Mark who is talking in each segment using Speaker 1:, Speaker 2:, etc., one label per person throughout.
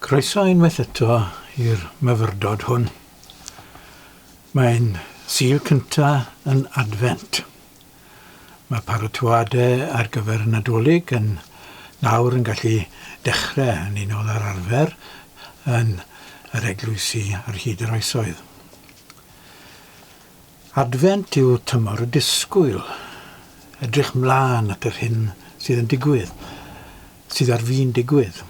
Speaker 1: Croeso unwaith eto i'r myfyrdod hwn. Mae'n Sul cynta yn Adfent. Mae paratoadau ar gyfer y Nadolig yn nawr yn gallu dechrau yn unol â'r arfer yn yr eglwysi ar hyd yr oesoedd. Adfent yw tymor y disgwyl, edrych mlân at yr hyn sydd yn digwydd. sydd ar fin digwydd.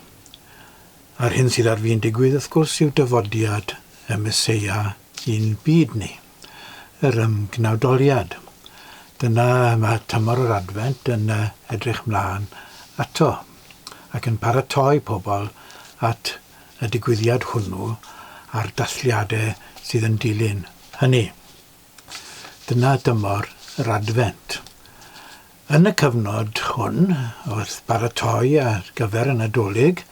Speaker 1: A'r hyn sydd ar fin digwydd, wrth gwrs, yw dyfodiad y Meseia i'n byd ni, yr ymgnawdoliad. Dyna mae tymor yr Adfent yn edrych mlaen ato, ac yn paratoi pobl at y digwyddiad hwnnw a'r dathliadau sydd yn dilyn hynny. Dyna dymor yr Adfent. Yn y cyfnod hwn, wrth baratoi ar gyfer y Nadolig,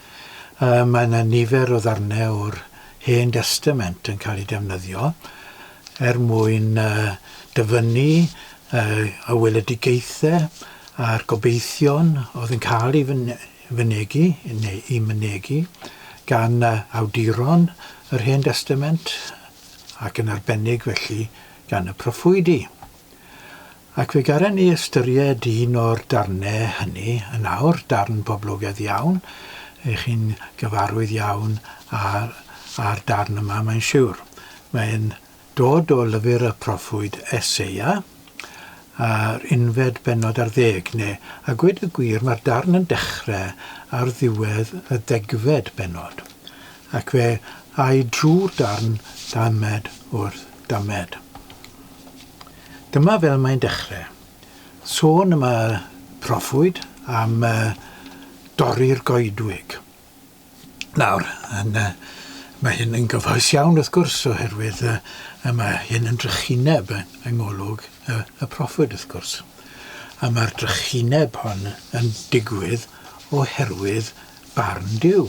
Speaker 1: mae yna nifer o ddarnau o'r Hen Destament yn cael eu defnyddio er mwyn dyfynnu y weledigaethau a'r gobeithion oedd yn cael eu mynegi, neu eu mynegi, gan awduron yr Hen Destament, ac yn arbennig felly gan y proffwydi. Ac fe garen ni ystyried un o'r darne hynny yn awr, darn poblogedd iawn, ych chi'n gyfarwydd iawn â â'r darn yma mae'n siwr. Mae'n dod o lyfr y proffwyd Eseia, yr unfed bennod ar ddeg, neu a gwed y gwir mae'r darn yn dechre ar ddiwedd y ddegfed bennod, ac fe ai drwy'r darn damed wrth damed. Dyma fel mae'n dechre. Sôn am y proffwyd, am y dorri'r goedwig. Nawr, yn, mae hyn yn gyfoes iawn wrth gwrs oherwydd y, y mae hyn yn drychineb yng ngolwg y, y proffwyd wrth gwrs. A mae'r drychineb hon yn digwydd oherwydd barn Duw.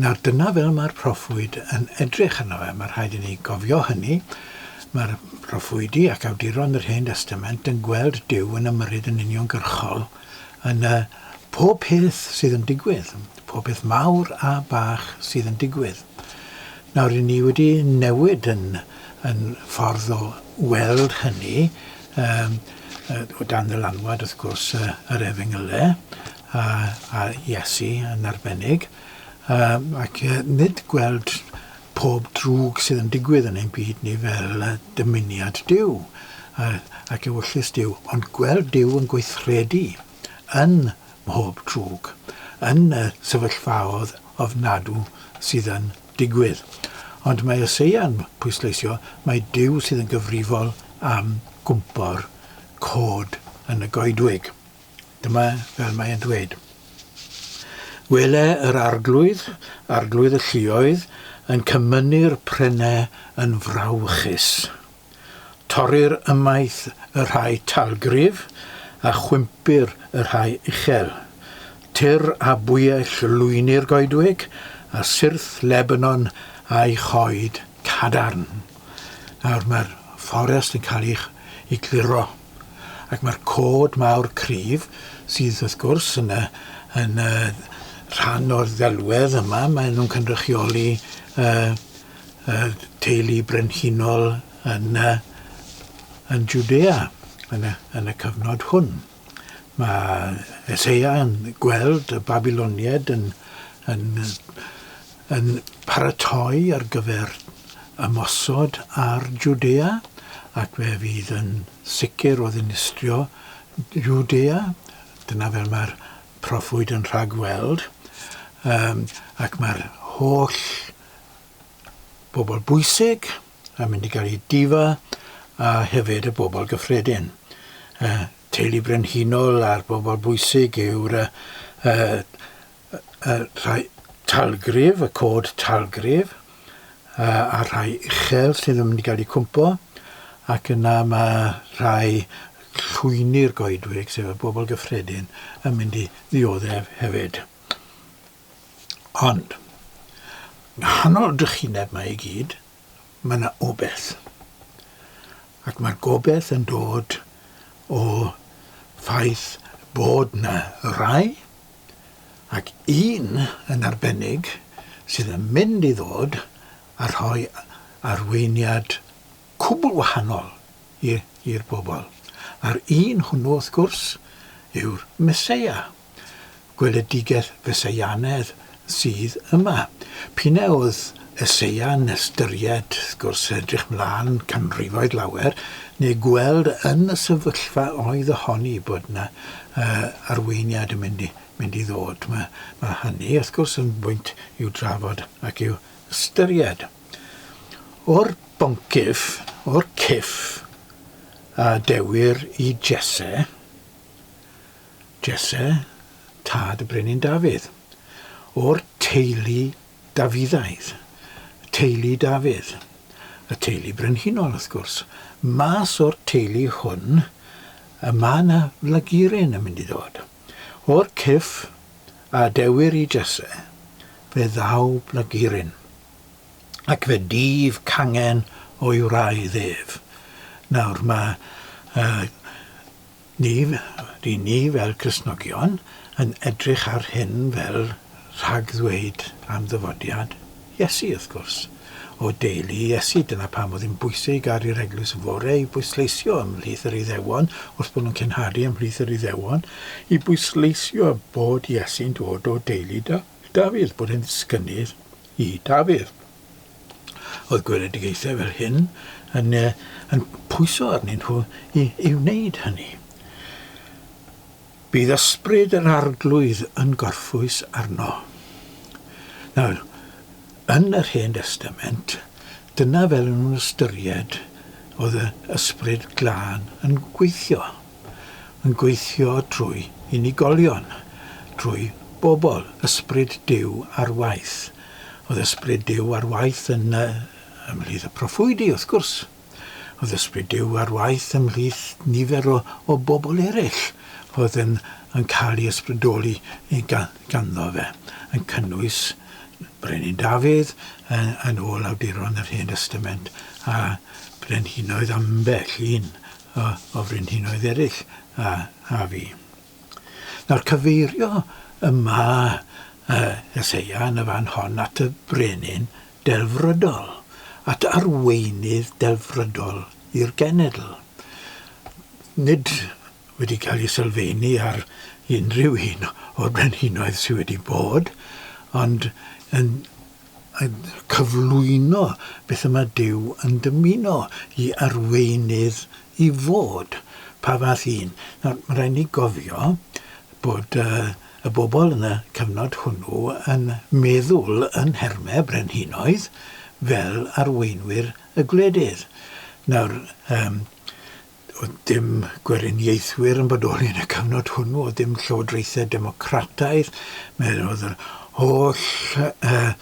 Speaker 1: Nawr, dyna fel mae'r proffwyd yn edrych arno fe. Mae rhaid i ni gofio hynny. Mae'r proffwydi ac awduron yr Hen Destament yn gweld Duw yn ymyrryd yn uniongyrchol yn y pob peth sydd yn digwydd, pob peth mawr a bach sydd yn digwydd. Nawr, ry'n ni wedi newid yn, yn ffordd o weld hynny, um, o dan ddylanwad, wrth gwrs, yr efengylau, a a Iesu yn arbennig, yym ac yy nid gweld pob drwg sydd yn digwydd yn ein byd ni fel yy dymuniad Duw yy ac ewyllys Duw, ond gweld Duw yn gweithredu yn mhob drwg, yn y sefyllfaodd ofnadw sydd yn digwydd. Ond mae Eseia yn pwysleisio mai Duw sydd yn gyfrifol am gwmpo'r cod yn y goedwig. Dyma fel mae e'n dweud, Wele yr arglwydd, arglwydd y lluoedd, yn cymynnu'r prene yn frawychus. Torrir ymaith y rhai talgrif, a chwympir y rhai uchel. Tyr a bwyell lwyni'r goedwig, a syrth Lebanon a'i choed cadarn. Nawr, mae'r fforest yn cael ei, ei gluro. Ac mae'r cod mawr cryf sydd wrth gwrs yn y, yn y rhan o'r ddelwedd yma, maen nhw'n cynrychioli uh, uh, teulu brenhinol yn, uh, yn Judea yn y, yn y cyfnod hwn. Mae Eseia yn gweld y Babyloniaid yn, yn yn paratoi ar gyfer ymosod ar Jwdea, ac fe fydd yn sicr o ddinistrio Jwdea, dyna fel mae'r proffwyd yn rhagweld, yym, ac mae'r holl bobl bwysig yn mynd i gael eu difa, a hefyd y bobl gyffredin. Y teulu brenhinol a'r bobl bwysig yw'r yy yy y rhai talgrif, y cod talgrif, a'r rhai uchel sy'n mynd i gael eu cwmpo, ac yna mae rhai llwyni'r goedwig, sef y bobl gyffredin, yn mynd i ddioddef hefyd. Ond, nghanol drychineb mae i gyd, mae yna obeth. Ac mae'r gobeith yn dod o ffaith bod yna rai ac un yn arbennig sydd yn mynd i ddod a rhoi arweiniad cwbl wahanol i'r bobl, a'r un hwnnw, wrth gwrs, yw'r Meseia, gweledigaeth Feseianedd sydd yma. P'un a oedd Eseau'n ystyried, wrth gwrs, edrych 'mlaen canrifoedd lawer, neu gweld yn y sefyllfa oedd y honni bod 'na arweiniad yn mynd i mynd i ddod. Mae mae hynny, wrth gwrs, yn bwynt i'w drafod ac i'w ystyried. O'r boncyff, o'r cyff a dewir i Jesse, Jesse, tad y Brenin Dafydd, o'r teulu Dafyddaidd, teulu Dafydd, y teulu brenhinol wrth gwrs. Mas o'r teulu hwn y mae 'na flagurin yn mynd i ddod. O'r cyrff a adewir i Jesse, fe ddaw blagurin. Ac fe dyf cangen o'i wraidd ef. Nawr mae yy Ni ry'n ni fel Cristnogion yn edrych ar hyn fel rhagddweud am ddyfodiad Iesu, wrth gwrs. O deulu Iesu, dyna pam oedd hi'n bwysig ar yr Eglwys y Fore i bwysleisio ymhlith yr Iddewon, wrth bod nhw'n cenhadu ymhlith yr Iddewon, i bwysleisio bod Iesu'n dod o deulu Dafydd, bod e'n ddisgynydd i Dafydd. Oedd gweledigaethau fel hyn yn, yn pwyso arnyn nhw i, i wneud hynny. Bydd ysbryd yr arglwydd yn gorffwys arno. Nawr, yn yr Hen Testament, dyna fel yn nhw'n ystyried oedd y ysbryd glân yn gweithio. Yn gweithio trwy unigolion, trwy bobl, ysbryd Duw ar waith Oedd Ysbryd Duw ar waith yn, ymhlith y proffwydi, wrth gwrs. Oedd Ysbryd Duw ar waith ymhlith nifer o, o bobl eraill oedd yn, yn cael ei ysbrydoli ganddo fe, yn cynnwys Brenin Dafydd yn, yn ôl awduron yr Hen Destament, a brenhinoedd ambell un o, o frenhinoedd eraill a, a fi. Nawr, cyfeirio y mae y Meseia yn y fan hon at y Brenin delfrydol, at arweinydd delfrydol i'r genedl. Nid wedi cael ei sylfeini ar unrhyw un o'r brenhinoedd sydd wedi bod, ond yn a chyflwyno beth y mae Duw yn dymuno i arweinydd i fod. Pa fath un? Nawr, mae'n rhaid ni gofio bod y bobl yn y cyfnod hwnnw yn meddwl yn nhermau brenhinoedd fel arweinwyr y gwledydd. Nawr, Doedd dim Gweriniaethwyr yn bodoli yn y cyfnod hwnnw, oedd dim Llywodraethau Democrataidd, mi oedd yr holl uh,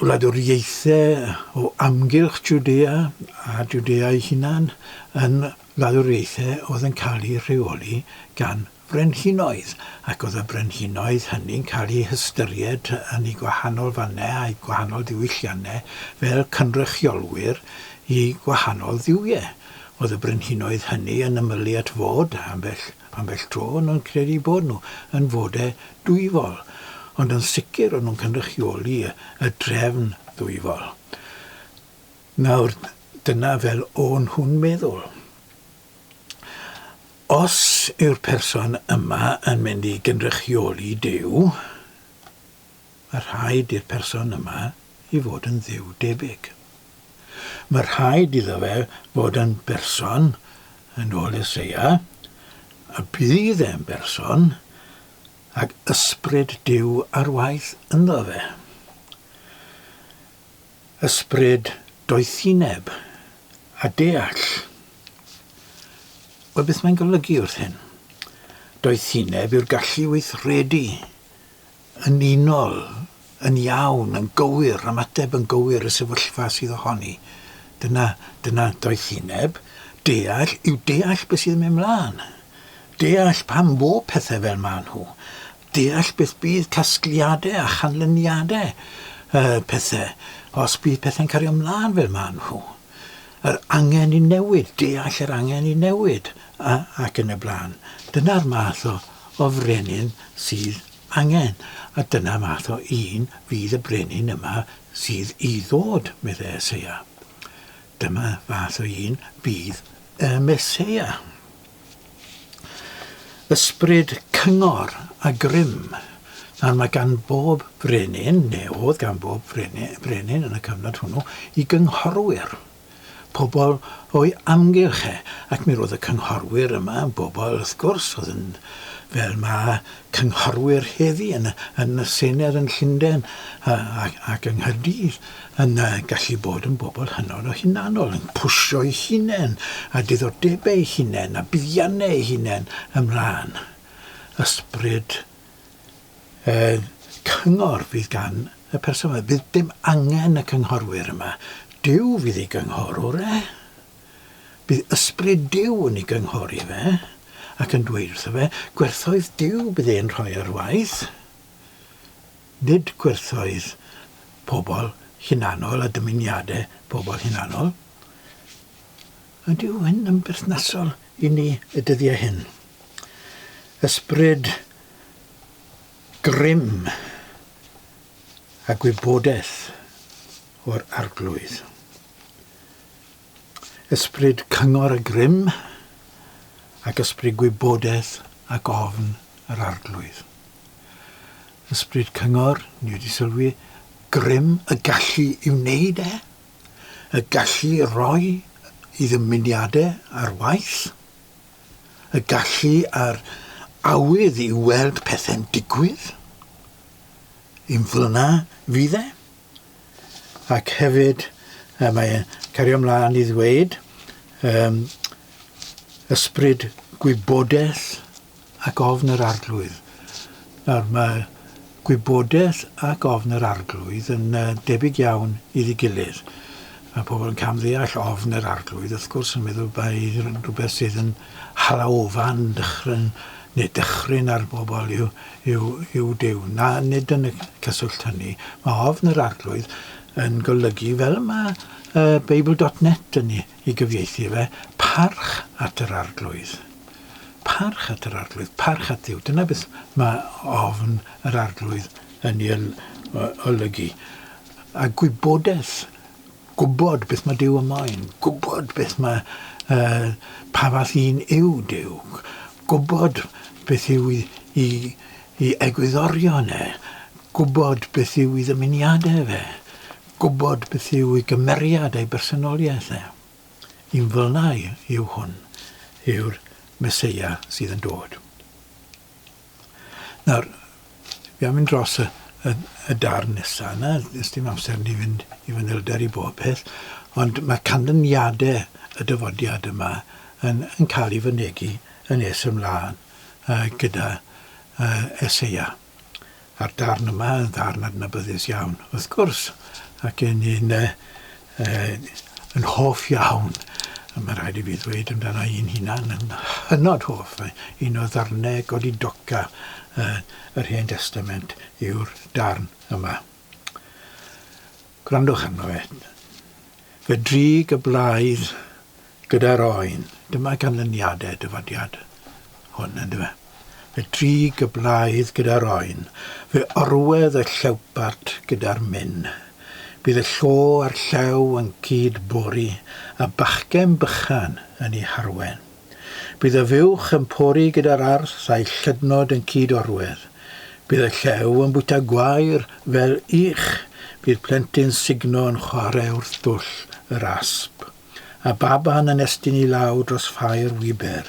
Speaker 1: wladwriaethau o amgylch Judea a Judea ei hunan yn wladwriaethau oedd yn cael ei rheoli gan Brenhinoedd, ac oedd y brenhinoedd hynny'n cael eu hystyried yn eu gwahanol fannau a'u gwahanol ddiwylliannau fel cynrychiolwyr i gwahanol dduwiau. Oedd y brenhinoedd hynny yn ymylu at fod, ambell, ambell dro, o'n nhw'n credu eu bod nhw, yn fodau dwyfol, ond yn sicr o'n nhw'n cynrychioli y, y drefn ddwyfol. Nawr, dyna fel o'n nhw'n meddwl. Os yw'r person yma yn mynd i gynrychioli Duw, mae rhaid i'r person yma i fod yn Dduw debyg. Mae rhaid iddo fe fod yn berson, yn ôl Eseia, a bydd e'n berson ag ysbryd Duw ar waith ynddo fe. Ysbryd doethineb a deall. Wel, beth mae'n golygu wrth hyn? Doethineb yw'r gallu weithredu yn unol, yn iawn, yn gywir, ymateb yn gywir y sefyllfa sydd ohoni. Dyna, dyna doethineb. Deall yw deall beth sydd yn mynd mlaen. Deall pam fo pethau fel maen nhw. deall beth bydd casgliadau a chanlyniadau y pethau os bydd pethau'n cario mlaen fel maen nhw, yr angen i newid, deall yr angen i newid a, ac yn y blaen. Dyna'r math o, o frenin sydd angen, a dyna math o un fydd y brenin yma sydd i ddod, meddai Eseia. Dyma fath o un fydd y Meseia. Ysbryd cyngor a grym, nawr mae gan bob brenin, neu oedd gan bob brenin yn y cyfnod hwnnw, i gynghorwyr, pobl o'i amgylch e, ac mi roedd y cynghorwyr yma yn bobl, wrth gwrs, oedd yn, fel mae cynghorwyr heddi yn yn y Senedd yn Llundain a a ac yng Nghaerdydd yn yy gallu bod yn bobl hynod o hunanol, yn pwsio'u hunain a diddordebau eu hunain a buddiannau eu hunain ymlaen. Ysbryd yy cyngor fydd gan y person 'ma. Fydd dim angen y cynghorwyr yma. Duw fydd ei gynghorwr e. Bydd Ysbryd Duw yn ei gynghori fe, ac yn dweud wrtho fe, Gwerthoedd Duw bydd e'n rhoi ar waith, nid gwerthoedd pobl hunanol a dymuniadau pobl hunanol. Ydyw hyn yn berthnasol i ni y dyddiau hyn? Ysbryd grym a gwybodaeth o'r Arglwydd. Ysbryd cyngor a grym, ac ysbryd gwybodaeth ac ofn yr Arglwydd. Ysbryd cyngor, ni wedi sylwi, grym, y gallu i wneud e, y gallu i roi i ddymuniadau ar waith, y gallu a'r awydd i weld pethau'n digwydd, yn f'lna fydd e. ac hefyd yy mae e'n cario mlan i ddweud yym ysbryd gwybodeth ac ofn yr Arglwydd nawr mae gwybodeth ac ofn yr Arglwydd yn yy debyg iawn iddi gilydd ma' pobl yn cam-ddeall ofn yr Arglwydd wrth gwrs yn meddwl bai rhywbeth sydd yn Halaofan dychryn neu dychryn ar bobl yw yw Duw. Na, nid yn y cyswllt hynny. Mae ofn yr Arglwydd yn golygu, fel mae Beibl dot net yn ei gyfieithu fe, parch at yr Arglwydd. Parch at yr Arglwydd, parch at Dduw. Dyna beth mae ofn yr Arglwydd yn ei olygu. A gwybodaeth Gwybod beth mae Duw yn moyn. Gwybod beth mae, yy, pa fath un yw Duw. Gwybod beth yw i, i, i egwyddorion e. Gwybod beth yw i ddymuniadau fe. Gwybod beth yw i gymeriad ei bersonoliaeth e. Un fel yna yw hwn, yw'r Meseia sydd yn dod. Nawr, fi am mynd dros y, y, y darn nesa yna, nes dim amser ni fynd i fanylder i bob peth, ond mae canlyniadau y dyfodiad yma yn, yn cael ei fynegi yn nes ymlaen uh, gyda uh, Eseia. A'r darn yma yn ddarn adnabyddus iawn, wrth gwrs, ac yn un uh, Yy, yn hoff iawn, ma' raid i fi ddweud amdana i'n hunan, yn hynod hoff, mae un o ddarne godidoca yy yr Hen Destament yw'r darn yma. Gwrandwch arno fe. Fe drig y blaidd Gyda'r oen, dyma ganlyniadau dyfodiad hwn, yn dyfe? Fe drig y blaidd gyda'r oen, fe orwedd y llewpart gyda'r min. Bydd y llo a'r llew yn cyd bori, a bachgen bychan yn ei harwen. Bydd y fuwch yn pori gyda'r arth a'i llydnod yn cyd orwedd. Bydd y llew yn bwyta gwair fel ych, bydd plentyn sugno yn chwarae wrth dwll yr asp. a baban yn estyn i law dros ffair wiber.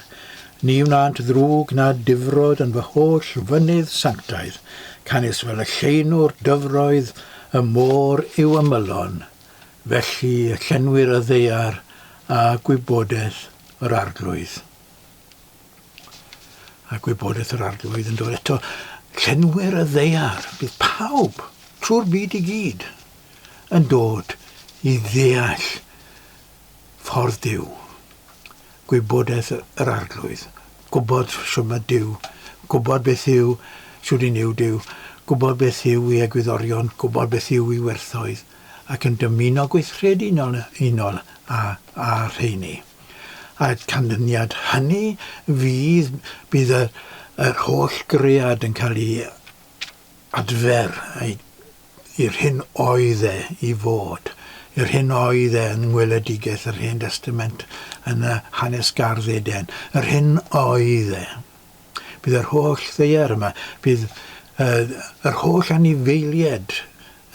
Speaker 1: Ni wnânt ddrwg na difrod yn fy holl fynydd sanctaidd, canys fel y lleunwr dyfroedd y môr yw ymylon, felly y llenwir y ddaear â gwybodaeth yr arglwydd. A gwybodaeth yr arglwydd yn dod eto, llenwir y ddaear, bydd pawb, trwy'r byd i gyd, yn dod i ddeall ffordd Duw, gwybodaeth yr Arglwydd, gwybod shwd mae Duw, gwybod beth yw, shwd un yw Duw, gwybod beth yw ei egwyddorion, gwybod beth yw ei werthoedd, ac yn dymuno gweithredu yn unol â, â rheini. A'r canlyniad hynny fydd, bydd yr, yr holl gread yn cael ei adfer, ei i'r hyn oedd e i fod, i'r hyn oedd e yn ngweledigaeth yr Hen Destament yn y hanes gardd Eden, yr hyn oedd e. Bydd yr holl ddaear yma, bydd uh, yr holl anifeiliaid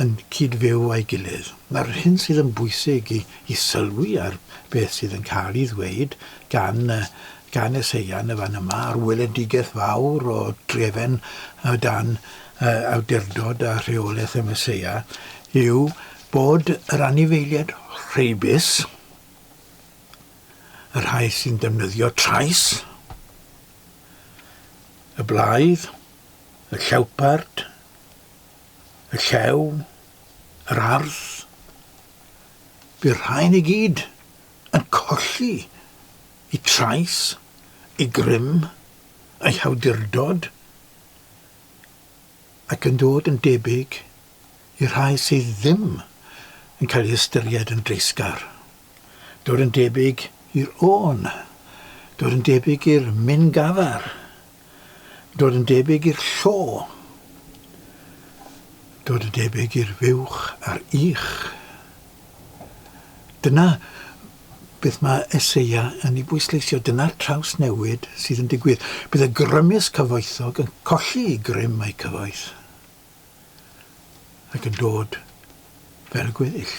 Speaker 1: yn cyd-fyw â'i gilydd. Mae'r hyn sydd yn bwysig i, i sylwi ar beth sydd yn cael ei ddweud gan, uh, gan Eseia yn y fan yma, a'r weledigaeth fawr o drefen uh, dan y awdurdod a rheolaeth y Meseia yw bod yr anifeiliaid rheibus, y rhai sy'n defnyddio trais, y blaidd, y llewpard, y llew, yr arth, by'r rhain i gyd yn colli y trais, y grym, eu hawdurdod, ac yn dod yn debyg i'r rhai sydd ddim yn cael ei ystyried yn dreisgar, dod yn debyg i'r ôn, dod yn debyg i'r min gafar, dod yn debyg i'r llo, dod yn debyg i'r fuwch a'r ych. Dyna beth mae Eseia yn ei bwysleisio, dyna'r trawsnewid sydd yn digwydd. Bydd y grymus cyfoethog yn colli ei grym a'i cyfoeth, ac yn dod fel y gweddill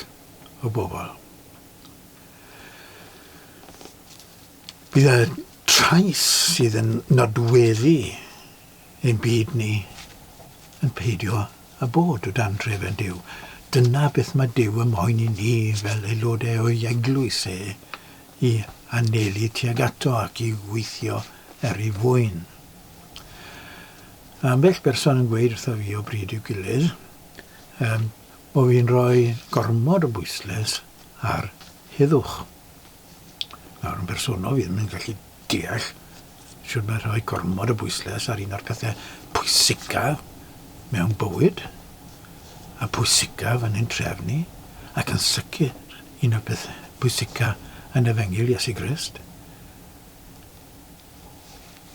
Speaker 1: o bobl. Bydd y trais sydd yn nodweddu Ein byd ni yn peidio â bod o dan drefen Duw. Dyna beth mae Duw yn moyn i ni fel aelodau o'i eglwys e, i anelu tuag ato ac i weithio er ei fwyn. Mae ambell berson yn gweud wrtho fi o bryd i'w gilydd, um, bo fi'n rhoi gormod o bwyslais ar heddwch. Nawr, yn bersonol, fi ddim yn gallu deall sut mae rhoi gormod o bwyslais ar un o'r pethau pwysicaf mewn bywyd, a pwysicaf yn ein trefn ni, ac yn sicr un o'r pethau pwysicaf yn efengyl Iesu Grist.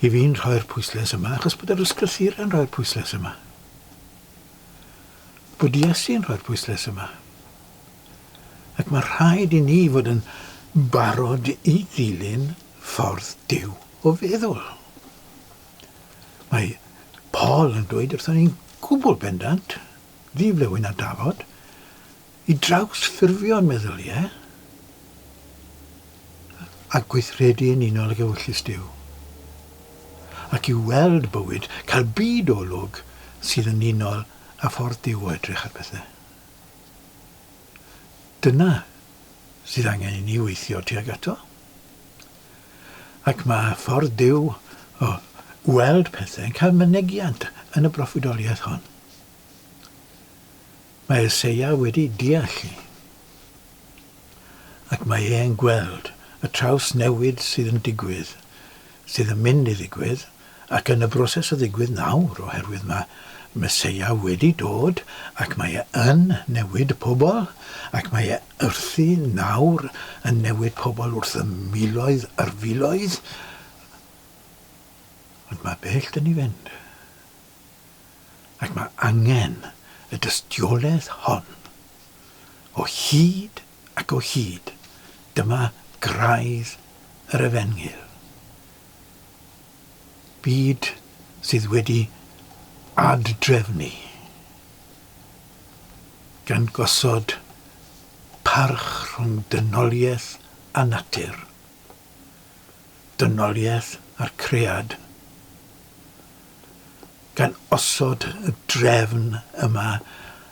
Speaker 1: I fi'n rhoi'r pwyslais yma, achos bod yr ysgrythurau'n rhoi'r pwyslais yma. Bod Iesu'n rhoi'r pwyslais yma. ac mae rhaid i ni fod yn barod i ddilyn ffordd Duw o feddwl. Mae Paul yn dweud wrthon ni'n gwbl bendant, ddiflewyn a dafod, i drawsffurfio'n meddyliau a gweithredu yn unol ag ewyllys Duw, ac i weld bywyd, cael byd olwg sydd yn unol â ffordd Duw o edrych ar bethau. Dyna sydd angen i ni weithio tuag ato. Ac mae ffordd Duw o weld pethau yn cael mynegiant yn y broffwydoliaeth hon. Mae Eseia wedi deall i. Ac mae e'n gweld y traws newid sydd yn digwydd sydd yn mynd i ddigwydd, ac yn y broses o ddigwydd nawr, oherwydd mae Meseia wedi dod, ac mae e yn newid pobl, ac mae e wrthi nawr yn newid pobl wrth y miloedd ar filoedd, ond mae bell dŷ ni fynd. Ac mae angen y dystiolaeth hon o hyd ac o hyd, dyma graidd yr Efengyl. Byd sydd wedi ad-drefnu, gan gosod parch rhwng dynoliaeth a natur, dynoliaeth a'r cread, gan osod y drefn yma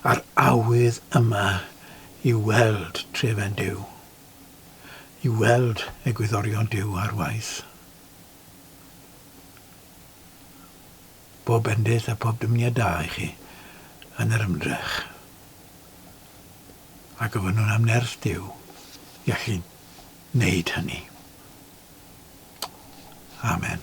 Speaker 1: a'r awydd yma i weld trefen Duw, i weld egwyddorion Duw ar waith. Bob bendith a phob dymuniad da i chi yn yr ymdrech. A gofynnwn am nerth Duw i allu wneud hynny. Amen.